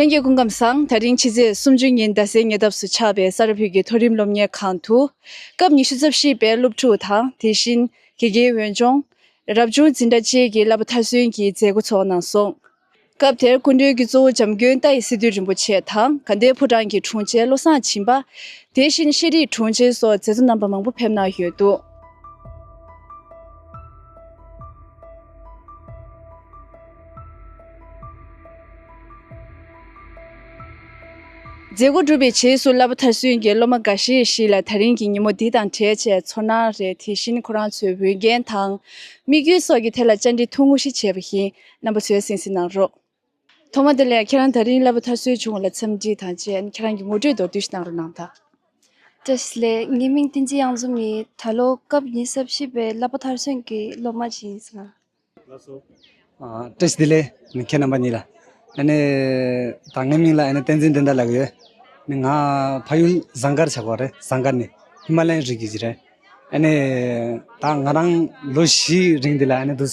ལྷན་རྒྱས་སྐུ་ཁམས་བཟང་ད་རིང་ཕྱི་ཚེས་སུམ་ཅུ་ཉིན་རྡ་སའི་ཉེ་འདབས་སུ་ཆགས་པའི་ས་རཱ་བྷིལ་གྱི་མཐོ་རིམ་སློབ་གཉེར་ཁང་དུ། སྐབས་ཉི་ཤུ་རྩ་བཞི་པའི་སློབ་ཕྲུག་དང་དེ་བཞིན་དགེ་རྒན་འོས་སྦྱོང། རབ་བྱུང་འཛིན་གྲྭ་བཅས་ཀྱི་བསླབ་པ་མཐར་སོན་གྱི་མཛད་སྒོ་ཚོགས་གནང་སོང། སྐབས་དེར་སྐུ་མགྲོན་གྱི་གཙོ་བོ་འཇམ་མགོན་རྟ་ཡི་སི་ཏུ་རིན་པོ་ཆེ་དང་གྷན་དྷའི་ཕོ་བྲང་གི་དྲུང་ཆེ་བློ་བཟང་བྱིན་པ། དེ་བཞིན་ཤེས་རིག་དྲུང་ཆེ་སོགས་མཛད་གཙོ་རྣམ་པ་མང་པོ་ཕེབས་གནང་ཡོད་འདུག། མཛད་སྒོ་གྲུབ་པའི་རྗེས་སུ་བླ་པ་ཐར་སོན་གྱིས་སློབ་མ་འགའ་ཤས་ཤིག་ལ་ད་རིང་གི་ཉིན་མོ་འདི་དང་བྲལ་ཆེད་ཚོར་སྣང་རེ་དེ་བཞིན་ཁོ་རང་ཚོའི་འོས་འགན་དང། དམིགས་ཡུལ་སོགས་ཀྱི་ཐད་ལ་བཅར་འདྲི་ཐུང་ངུ་ཞིག་བྱས་པ་བཞིན་རྣམ་པ་ཚོལ་སིང་སིང་གནང་རོགས། ཐོག་མ་དེ་ལས་ཁྱེད་རང་ད་རིང་གླ་པོ་ཐར་སྲོལ་བྱུང་བ་ལ་འཚམས་འདྲི་དང་བཅས་ཁྱེད་རང་གི་ངོ་སྤྲོད་མདོར་བསྡུས་ཤིག་གནང་རོགས་གནང་ཐལ། བཀྲ་ཤིས་ལེ། ངའི་མིང་བསྟན་འཛིན་དབྱངས་འཛོམས་ཡིན། ད་ལོ་སྐབས་ཉི་ཟླ་བཞི་པའི་གླ་པོ་ཐར་སོན་གྱི་སློབ་མ་ཞིག་ཡིན་ཟེར། བཀྲ་ཤིས་ལེ། ཁྱེད་རྣམ་པ་གཉིས་ལ། ད་ངའི་མིང་ལ་བསྟན་འཛིན་བསྟན་དར་ལགས་ཡོད། ང་ཕ་ཡུལ་བཟང་དཀར་ཆགས་པ་རེད་བཟང་དཀར་ནི་ཧི་མ་ལའི་རི་རྒྱུད་ཀྱི་རེད། ད་ང་རང་ལོ་བཞིའི་རིང་འདི་ལ་འདུག།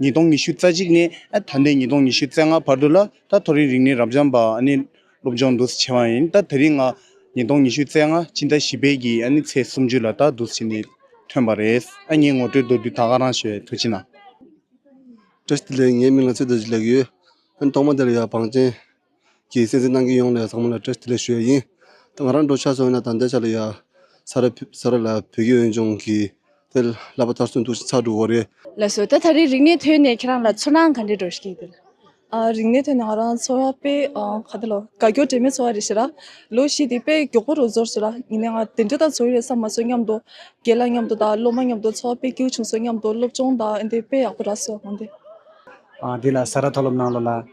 ཉིས་སྟོང་ཉི་ཤུ་རྩ་གཅིག་ནས་ད་ལྟའི་ཉིས་སྟོང་ཉི་ཤུ་རྩ་ལྔ་བར་དུ་ལ་དྭགས་མཐོ་རིམ་རིག་གནས་རབ་འབྱམས་པ་སློབ་སྦྱོང་བསྡུ་ཆེ་བ་ཡིན་སྟབས་ད་རིང་སྔ་ཉིས་སྟོང་ཉི་ཤུ་རྩ་ལྔ་སྤྱི་ཟླ་བཞི་པའི་གི་ཚེས་སུམ་ཅུ་ལ་དྭགས་བསྡུ་ཆེ་ནས་ཐོན་པ་རེད་ཨ་མྱེས་ངོ་སྤྲོད་མདོར་བསྡུས་ད་ག་རང་ཞོལ་དུ་ཕྱིན་ན། བཀྲ་ཤིས་བདེ་ལེགས་ངའི་མིང་ལ་ཚེ་བདག་ཅེས་ལེགས་ཡོད། ཨ་མྱེས་ཐོག་མ་དེར་ཡང་བང་ཆེན། ཀྱིས་སེམས་ཅན་རྣམས་ཀྱི་ཡོངས་ལ་བཟང་མོ་ལ་བཀྲ་ཤིས་ལེགས་ཞུ་བ་ཡིན། ད་ང་རང་འགྲོ་ཆགས་སོང་ཡིན་ན་ད་འདས་ཆགས་ལ་ཡ། ས་ར་ས་ར་ལ་བོད་ཀྱི་འོན་ཆུང་གི། དེ་ལབ་པ་ལྟར་སུན་འདུག་ཤིག་ཚག་འགྲུག་བོ་རེད། ལ་སོ་ད་ད་རེས་རིག་གནས་ཐོན་ནས་ཁྱེད་རང་ལ་ཚུར་སྣང་ག་འདྲས་འགྲོ་ཤེས་དེ། རིག་གནས་ཐོན་ནས་ང་རང་ཚོར་བ་དཔེ་ག་དེ་ལོ་དགའ་སྐྱོ་དྲི་མེད་ཚོར་བ་རེ་ཤེས་ལ། ལོ་བཞི་དེ་དཔེ་མགྱོགས་པོ་རུ་ཚོར་སོང་ལ་ཡིན་ནའི་ང་དེ་འདྲས་ད་ཚོར་ཡོད་ས་མ་ཚོར་སྙམ་འདུག་རྒས་ལ་སྙམ་འདུག་ད་ལོ་མ་སྙམ་འདུག་ཚོར་བ་དཔེ་སྐྱིལ་བྱུང་སོང་སྙམ་འདུག་སློབ་སྦྱོང་ད་འདི་དཔེ་ཡག་པོ་ར་སོ་ང་འདི། དེ་ལ་ས་ར་མཐོ་སློབ་ནང་ལོ་ལ།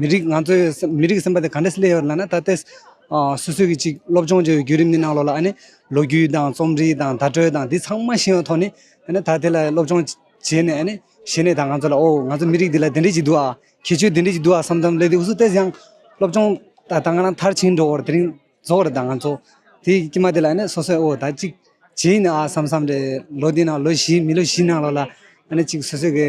མི་རིགས་ང་ཚོས་མི་རིགས་སེམས་པ་དེ་ག་འདྲས་སླེབས་ཡོད་ལ་ན་ད་ལྟའི་སུད་སུད་ཀྱི་ཅིག་སློབ་སྦྱོང་བྱས་པའི་བརྒྱུད་རིམ་གྱི་ནང་ལོགས་ལ་ཨ་ནི་ལོ་རྒྱུས་དང་རྩོམ་རིག་དང་བརྡ་སྤྲོད་དང་འདི་ཚང་མ་ཤེས་པའི་ཐོག་ནས་ཨ་ནི་ད་དེ་ལ་སློབ་སྦྱོང་བྱས་ནས་ཨ་ནི་བྱས་ནས་ད་ང་ཚོ་ལ་ཨོ་ང་ཚོ་མི་རིགས་འདི་ལ་དེ་འདྲས་ཀྱི་འདུག་ཨ་ཁྱད་ཆོས་དེ་འདྲས་ཀྱི་འདུག་ཨ་བསམ་བསམ་སླེབས་དུས་སུ་དེ་ཡང་སློབ་སྦྱོང་ད་ད་ང་རང་མཐར་ཕྱིན་འགྲོ་བར་དེ་རིང་རྫོགས་རེད་ད་ང་ཚོ་དེ་ཀྱི་མ་དེ་ལ་ཨ་ནི་སོ་སོས་ཨོ་ད་ཅིག་བྱས་ཡིན་ནའི་ཨ་བསམ་བསམ་རེད་ལོ་འདི་ནང་ལོ་བཞི་མི་ལོ་བཞི་ནང་ལོགས་ལ་ཨ་ནི་ཅིག་སུད་སུད་ཀྱི་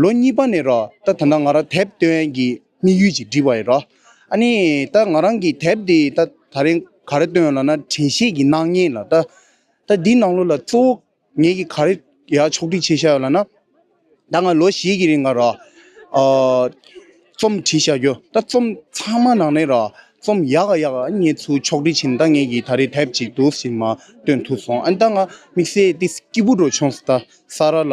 ལོ་གཉིས་པ་ནས་ར་ད་ད་ནང་ང་རང་དེབ་སྟོན་གྱི་དམིགས་ཡུལ་ཅིག་འབྲི་བ་ཡིན་ར་ཨ་ནི་ད་ང་རང་གིས་དེབ་འདི་ད་ད་རིང་ག་རེ་སྟོན་ལ་ན་དྲན་ཤེས་ཀྱི་སྣང་བརྙན་ལ་ད་ད་འདི་ནང་ལོ་ལ་གཙོ་བོ་ངེད་ཀྱིས་ག་རེ་ཡ་ཕྱོགས་བསྒྲིགས་བྱེད་བཞག་ཡོད་ལ་ན་ད་ང་ལོ་བཞི་གྱི་རིང་ང་ར་རྩོམ་བྲིས་བཞག་རྒྱུ་ད་རྩོམ་ཚང་མ་ནང་ནས་ར་རྩོམ་ཡག་ག་ཡག་ག་ངེད་ཚོའི་ཕྱོགས་བསྒྲིགས་བྱས་ནས་ད་ངེད་ཀྱིས་ད་རེ་དེབ་ཅིག་དུས་ཕྱིན་མ་སྟོན་ཐུབ་སོང་ཨ་ནི་ད་ང་དམིགས་བསལ་ཏི་སི་ཀི་བུ་འགྲོ་བྱུང་ས་ད་ས་ར་ལ།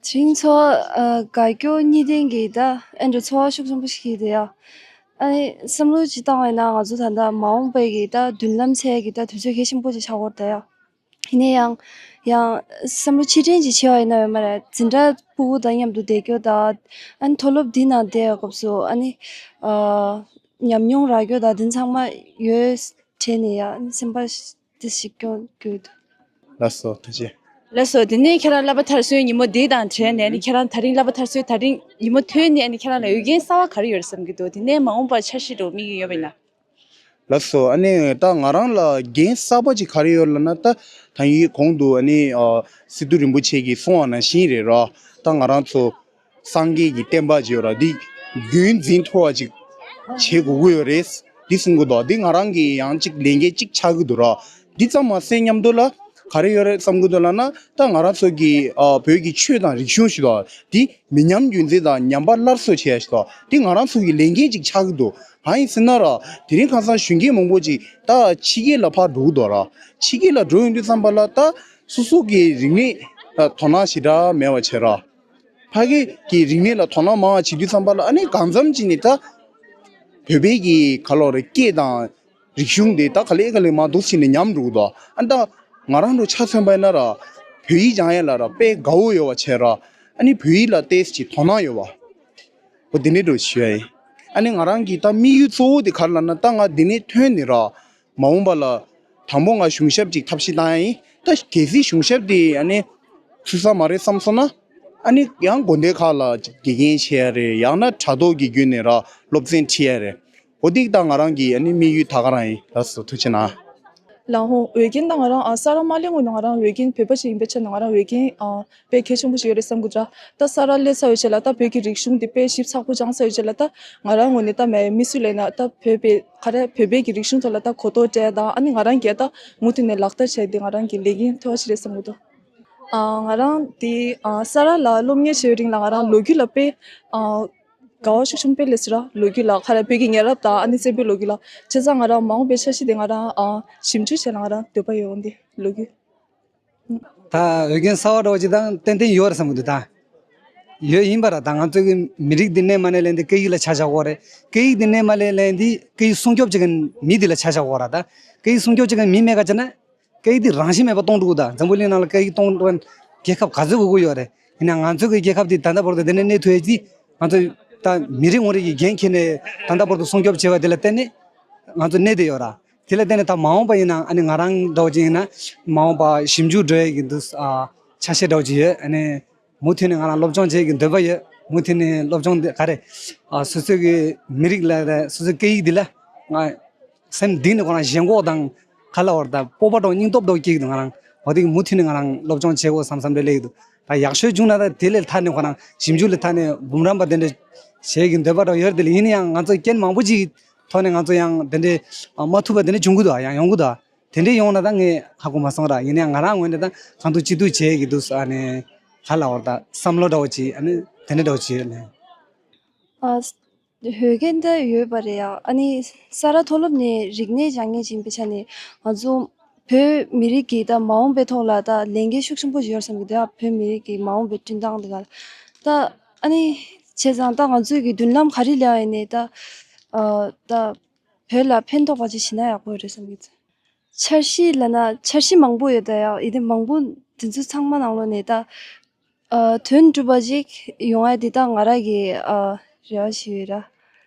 ཆིང་མཚོ་དགའ་སྐྱོ་གཉིས་ལྡན་གྱི་ད་ཨན་དུ་འཚོ་བ་ཤུགས་ཆེན་པོ་ཞིག་བྱས་ཏེ་ཡ་ཨ་ནི་བསམ་བློ་ཅིག་བཏང་བས་ན་ང་ཚོ་ད་ལྟ་མ་འོངས་པའི་གི་ད་མདུན་ལམ་ཚད་ཀྱི་ད་དུས་ཚོད་གལ་ཆེན་པོ་ཅིག་ཆགས་སྐོར་ད་ཡ་ཧི་ནས་ཡང་ཡང་བསམ་བློ་ཆེ་ཕྲན་ཅིག་བྱས་བ་ཡིན་ན་ཡོད་མ་རེད་འཛིན་གྲྭ་སྤུ་བོ་དང་མཉམ་དུ་བསྡད་སྐྱོ་ད་ཨན་མཐོ་སློབ་འདི་ནང་བསྡད་པའི་སྐབས་སུ་ཨ་ནི་ཉམས་མྱོང་རག་སྐྱོ་ད་འདི་ཚང་མ་ཡོད་བྱས་ནས་ཡ་ཨ་ནི་སེམས་པ་ཅི་ཞིག་ཀྱང་དགོས་འདུག། ལ་སོགས་ཐུགས་རྗེ། ལ་སོགས་དེ་ནས་ཁྱེད་རང་གླ་པ་ཐར་སོའི་ཉིན་མོ་དེ་དང་བྲལ་ནས་ནི་ཁྱེད་རང་ད་རིང་གླ་པ་ཐར་སོའི་ད་རིང་ཉིན་མོ་ཐོན་ནས་ནི་ཁྱེད་རང་ལ་འོས་འགན་གསར་བ་ག་རེ་ཡོད་རེད་བསམ་གྱི་འདུག་དེ་ནས་མ་འོངས་པར་འཆར་གཞི་རུ་དམིགས་ཡུལ་ཡོད་པ་ཡིན་ན། ལ་སོགས་ཨ་ནི་ད་ང་རང་ལ་འགན་གསར་བ་ཅིག་ག་རེ་ཡོད་ལ་ན་ད་ད་ཡིན་གོང་དུ་ཨ་ནི་སི་ཏུ་རིན་པོ་ཆེ་གིས་གསུང་བ་ན་བཞིན་རེད་ར་ད་ང་རང་ཚོ་སངས་རྒྱས་ཀྱི་བསྟན་པ་བརྗེ་བ་འདི་རྒྱུན་འཛིན་མཐོ་བ་ཅིག་བྱེད་དགོས་ཀྱི་ཡོད་རེད། འདི་གསུང་གི་འདུག་འདི་ང་རང་གིས་ཡང་ཅིག་ལས་འགན་ཅིག་ཆགས་ཀྱི་འདུག་ར་འདི་ཙམ་མ་ཟད་སྙམ་འདུག་ལ། ག་རེ་ཡོད་རེད་བསམ་གྱི་འདུག་ལ་ན་ད་ང་རང་ཚོ་གི་བོད་ཀྱི་ཆོས་དང་རིག་གཞུང་ཞིག་དང་འདི་མི་ཉམས་རྒྱུན་འཛིན་དང་ཉམས་པ་སླར་གསོ་བྱེད་ཡ་ཞིག་དང་འདི་ང་རང་ཚོ་གི་ལས་འགན་ཅིག་ཆགས་ཀྱི་འདུག་གང་ཡིན་ཟེར་ན་ར་དེ་རིང་ཁང་བཟང་གཞོན་སྐྱེས་མང་པོ་ཅིག་ད་ཕྱི་རྒྱལ་ལ་ཕར་འགྲོ་གི་འདུག་ར་ཕྱི་རྒྱལ་ལ་འགྲོ་ཡོང་དུས་བསམ་པ་ལ་ད་སོ་སོ་གི་རིག་གནས་དོ་སྣང་ཞེ་དྲག་མེད་པ་བྱེད་ར། ཕ་སྐད་ཀྱི་རིག་གནས་ལ་དོ་སྣང་མང་བ་བྱེད་རྒྱུ་བསམ་པ་ལ་ཨ་ནི་གང་འཚམ་གྱིས་ནི་ད་བོད་པའི་གི་ག་ལོག་རེ་སྐད་དང་རིག་གཞུང་དེ་ད་ག་ལེ་ག་ལེ་མ་འདུག་ཕྱིན་ནས་ཉམས་འགྲོ་གི་འདུག་ཨ་ནི་ད་ང་རང་ཚོ་ཆ་མཚོན་པ་ཡིན་ན་ར་བོད་ཡིག་སྦྱང་ཡས་ལ་ར་དཔེ་དགའ་བོ་ཡོད་བ་བྱས་ར་ཨ་ནི་བོད་ཡིག་ལ་ལྟས་ཀྱི་དོ་སྣང་ཡོད་བ་འོ་དེ་ནས་འགྲོ་ཞུ་ཡ་ཡིན་ཨ་ནི་ང་རང་གི་ད་དམིགས་ཡུལ་གཙོ་བོ་དེ་ག་རེ་ལ་ན་ད་ང་དེ་ནས་ཐོན་ནི་ར། མ་འོངས་པ་ལ་དང་པོ་ང་གཞུང་ཞབས་ཅིག་ཐབས་ཤེས་བཏང་ཡ་ཡིན། ད་གལ་སྲིད་གཞུང་ཞབས་དེ་ཡང་ནི་ཚུད་ས་མ་རེད་བསམ་སོང་ན། ཨ་ནི་ཡང་དགོན་སྡེ་ཁག་ལ་དགེ་རྒན་བྱས་ཡ་རེད་ཡང་ན་དྲ་ཐོག་གི་བརྒྱུད་ནས་ར་སློབ་ཚན་ཁྲིད་ཡ་རེད། འོ་ཏིག་ད་ང་རང་གི་ཨ་ནི་དམིགས་ཡུལ་ད་ག་རང་ཡིན་ད་ཟོ་ཐུ་ཆེ་ན། ལ་ཧོང་འོས་རྒན་ད་ང་རང་ཨ་ས་ར་མ་ལེ་ངོས་ནས་ང་རང་འོས་རྒན་བོད་པ་ཞིག་ཡིན་པའི་ཆ་ནས་ང་རང་འོས་རྒན་དཔེ་གལ་ཆེན་པོ་ཞིག་ཡོད་རེད་བསམ་གི་འདྲ། ད་ས་ར་གླེ་ས་ཡོད་ཆད་ལ་ད་བོད་ཀྱི་རིག་གཞུང་འདི་དཔེ་ཞིབ་ཚགས་པོ་སྦྱང་ས་ཡོད་ཆད་ལ་ད་ང་རང་ངོས་ནས་ད་མེད་མི་སུ་ལས་ན་ད་བོད་པའི་ཁ་རས་བོད་པའི་གི་རིག་གཞུང་ཐོག་ལ་ད་གོ་རྟོགས་སྤྲད་ད་ཨ་ནི་ང་རང་གས་ད་མུ་མཐུད་ནས་ལག་བསྟར་བྱས་ཏེ་ང་རང་གི་ལས་འགན་ཐོལ་བ་ཞིག་རེད་བསམ་གི་འདུག་ཨ་ང་རང་དེ་ཨ་ས་ར་ལ་སློབ་གཉེར་བྱས་ཡོད་རིང་ལ་ང་རང་ལོ་རྒྱུས་ལ་དཔེ་ཨ་དགའ་བ་ཤུགས་ཆུང་དཔེ་ལས་ས་ར་ལོ་རྒྱུས་ལ་ཁ་རས་བོད་ཀྱི་ཉེ་རབས་དང་ཨ་ནི་བཙན་པོའི་ལོ་རྒྱུས་ལ་ཆེ་ཚང་ང་རང་མ་འོངས་པའི་ཆ་ཤས་དེ་ང་རང་ཨ་ཞིབ་འཇུག་བྱས་ལ་ང་རང་འདོད་པ་ཡོད་འོན་ཏེ་ལོ་རྒྱུས། ད་འོས་འགན་གསར་བ་སྒྲོག་བྱེད་དང་ཏན་ཏན་ཡོད་བསམ་གྱི་འདུག་ད། ཡོད་ཡིན་པ་རེད་ད་ང་ཚོས་ཀྱི་མི་རིགས་འདི་གནས་མ་གནས་ལས་འདི་སྐད་ཡིག་ལ་ཆ་བཞག་དགོས་རེད་སྐད་ཡིག་འདི་གནས་མ་གནས་ལས་འདི་སྐད་ཡིག་སྲུང་སྐྱོབ་བྱེད་མཁན་མི་འདི་ལ་ཆ་བཞག་དགོས་ར་ད། སྐད་ཡིག་སྲུང་སྐྱོབ་བྱེད་མཁན་མི་མེད་ཁ་ཆེ་ན། སྐད་ཡིག་འདི་རང་བཞིན་མེད་པ་གཏོང་འགྲོ་གི་ད་འཛམ་བུ་གླིང་ནང་ལ་སྐད་ཡིག་གཏོང་འགྲོ་མཁན་རྒྱལ་ཁབ་ག་ཚོད་དགོས་ཀྱི་ཡོད་རེད་ཡིན་ན་ང་ཚོས་ཀྱི་རྒྱལ་ཁབ་འདི་ད་ལྟ་བར་དུ་འདི་ནས་གནས་ཐུབ་ཡོད་ཀྱི། ང་ཚོས་ད་མི་རིགས་ངོ་རིགས་ཀྱི་འགན་འཁྱེར་ནས་ད་ལྟ་བར་དུ་སྲུང་སྐྱོབ་བྱས་པ་འདི་ལ་བརྟེན་ནས་ང་ཚོ་གནས་འདི་ཡོད་ར། དེ་ལ་བརྟེན་ནས་ད་མ་འོངས་པ་ཡིན་ནའང་ཨ་ནི་ང་རང་འདྲ་བ་ཅན་ཡིན་ན་མ་འོངས་པ་ཞིབ་འཇུག་འགྲོ་ཡི་གི་འདུག་ཆ་ཤས་འདྲ་བ་ཅིག་ཡོད་ཨ་ནི་མུ་མཐུད་ནས་ང་རང་སློབ་སྦྱོང་བྱེད་གི་འདོད་པ་ཡོད་མུ་མཐུད་ནས་སློབ་སྦྱོང་འདི་ག་རེ་སོ་སོའི་གི་མི་རིགས་ལ་རེ་སོ་སོའི་སྐད་ཡིག་འདི་ལ་ང་སེམས་གཏིང་ནས་ཁོ་རང་ཞེན་ཁོག་དང་ཁ་ལ་བོར་ད་སྤོབས་པ་འདྲ་བོ་སྙིང་སྟོབས་འདྲ་བོ་སྐྱེ་གི་འདུག་ང་རང་འོ་དེ་གི་མུ་མཐུད་ནས་ང་རང་སློབ་སྦྱོང་བྱེད་དགོས་བསམ་བསམ་རེ་སླེབས་ཀྱི་འདུག་ད་ཡག་ཤོས་བྱུང་ན་ད་དེ་ལས་ལྷག་ནས་ཁོ་རང་ཞིབ་འཇུག་ལ་ཐ་ནས་འབུམ་རམས་པ་དེ་འདྲ་བྱེད་གི་འདོད་པ་འདྲ་བོ་ཡོད་དེ་ལ་ཡིན་ནའང་ང་ཚོ་རྐྱེན་མང་པོ་ཅིག་ཐོག་ནས་ང་ཚོ་ཡང་དེ་འདྲའི་མ་ཐུབ་པ་དེ་འདྲ་འབྱུང་གི་འདུག་ཡང་ཡོང་གི་འདུག་དེ་འདྲའི་ཡོང་ན་ད་ངས་ཧ་གོ་མ་སོང་ར་ཡིན་ན་ཡང་ང་རང་ངོས་ནས་ད་གང་ཐུབ་ཅི་ཐུབ་བྱེད་ཀྱི་འདུག་ས་ནས་ཧ་ལ་བོར་ད་བསམ་བློ་འདྲ་བོ་བྱེད་ཨ་ནི་དེ་འདྲ་འདྲ་བོ་བྱེད་ཨ་ཧོས་གན་ད་ཡོད་པ་རེད་ཡ་ཨ་ནི་ས་རཱ་མཐོ་སློབ་ནས་རིག་གནས་སྦྱང་ངེས་ཅིང་པའི་ཆ་ནས་ང་ཚོ་བོད་མི་རིགས་ཀྱི་ད་མ་འོངས་པའི་ཐོག་ལ་ད་ལས་འགན་ཤུགས་ཆེན་པོ་བཞེས་ར་བསམ་གི་འདུག་ཡ་བོད་མི་རིགས་ཀྱི་མ་འོངས་པའི་བསྟུན་སྟངས་དེ་ག་ལ་ད་ཨ་ནི། བྱས་ཙང་ད་ང་ཚོས་ཀྱི་མདུན་ལམ་ག་རེ་ལེའོ་ཡིན་ནའི་ད། ད། བོད་ལ་ཕན་ཐོགས་པ་ཅིག་བྱེད་ན་ཡག་པོ་རེད་བསམ་གྱི། འཆར་གཞི་ལ་ན་འཆར་གཞི་མང་པོ་ཡོད་ད་ཡག་ཡིན་ཏེ་མང་པོ་དེ་ཚོ་ཚང་མ་ནང་ལོ་ནས་ད། དོན་གྲུབ་པ་ཅིག་ཡོང་ཨ་དེ་ད་ང་ར་གི་ཨ་རེ་བ་ཞིག་ཡོད་ར།